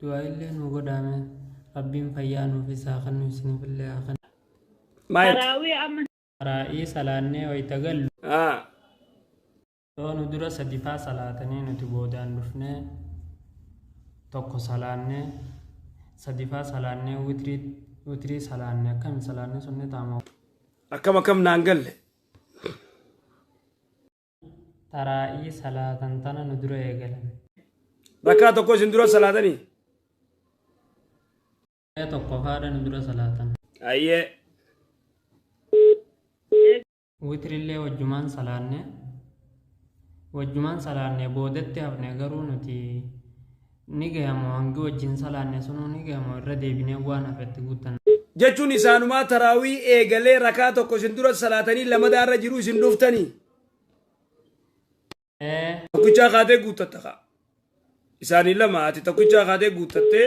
du'aa'illee nuu godhaame rabbiin fayyaa nuufis haa kennu isinifillee haa kennu Maayik. Taraawii amma raa'ii salaannee wayita gallu Ah. yoo nu dura sadifaa salaatanii nuti boodaan dhufnee tokko salaannee sadifaa salaannee witrii witrii salaanne akkami salaanne sunni taama Akkam akkam naan galle. taraa'ii salaatan tana nu dura eegalan. Rakkaa tokko isin dura salaatanii. Ee tokkofaadha nu dura salaatan. Ayyee. Witrillee wajjumaan salaanne. Wajjumaan salaanne boodatti hafne garuu nuti Ni gaya moo hangi wajjin salaanne sunuu ni gaya moo irra deebinee waan hafe itti guuttanna. Jechuun isaanumaa taraawii eegalee rakaa tokko isin dura salaatanii lamadaa irra jiru isin dhuftanii Ee tokkichaa kaatee guuttatta kaa. Isaanii lama ati tokkichaa kaatee guuttattee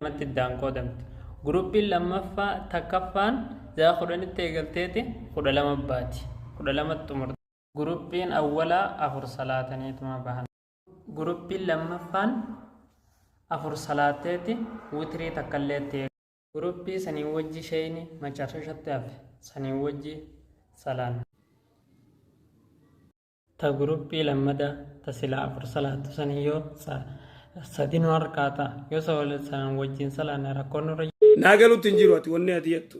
lamatti iddaan qoodamti. Guruppiin lammaffaa takkaffaan zaa kudhanitti eegalteeti kudha lama baati. Kudha lamatti xumurti. Guruppiin awwalaa afur salaataniituma bahan. Guruppiin lammaffaan afur salaatteeti witrii takkallee itti eegalte. Guruppii sanii wajji sheeyni macarrashatti hafe sanii wajji salaanne. ta guruphii lammada ta sila afur salaattu sanii yoo sa sadi nu harkaa ta yoo sa wal san wajjin salaanne rakkoon nurra naa galutti hin jiru ati wanni ati jettu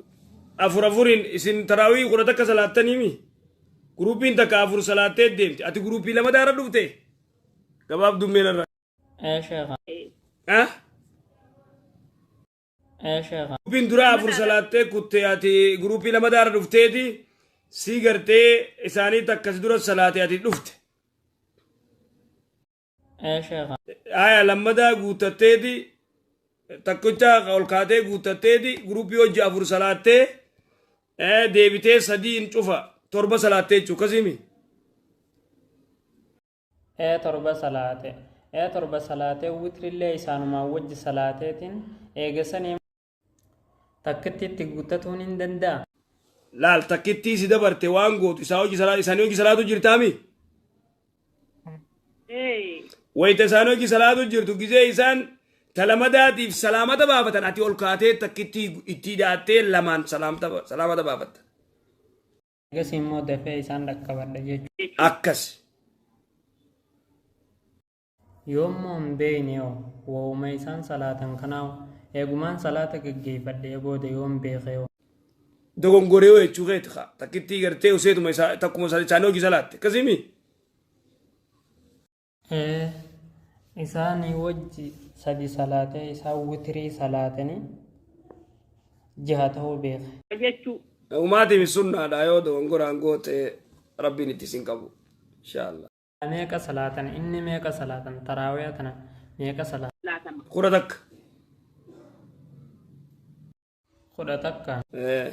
afur afuriin isin taraawii kudha takka salaattaniimi guruupiin takka afur salaattee deemti ati guruupii lama daara dhufte gabaabdummeen irraa ee sheekha ah Ee sheekha. Guruppiin duraa afur salaattee kutte ati guruppii lama daara dhufteeti sii gartee isaanii takka si dura salaate ati dhufte. Ee sheekha. Aya lammadaa guuttatteeti takkicha ol kaatee guuttatteeti guruppii hojii afur salaattee ee, deebitee sadiin cufa torba salaattee jechuudha akkasimi. ee torba salaate ee torba salaatee witrillee isaanumaan wajji salaateetiin eegasanii takkittiitti guuttatuun hin danda'a. laal takkittii si dabarte waan gootu isaa hojii salaa isaanii hojii salaatu jirtaami Ee. wayita isaan hojii salaatu jirtu gizee isaan talamadaatiif salaamata baafatan ati ol kaatee takkittii ittii daattee lamaan salaamta- salaamata baafatta Ergasii immoo dafee isaan dhaqqabadha jechuudha. Akkasi. Yoommoo hin beeyne hoo wawuma isaan salaatan kanaa hoo eegumaan salaata gaggeeffadhee booda yoon beekee hoo. Dogongoree hoo jechuu keeti kaa takkittii gartee useetuma isaa takkuma isaa isaanii hojii salaatte akkasimi. ee isaanii wajji sadi salaatee isaan witrii salaatanii jaha ta'uu beeke. jechuu Umaatiif sunnaadha yoo dogongoraan goote rabbiin itti isin qabu. Inshaallah. meeqa salaatan inni meeqa salaatan taraawiya tana meeqa salaatan laatama. Kudha takka. kudha takka Ee.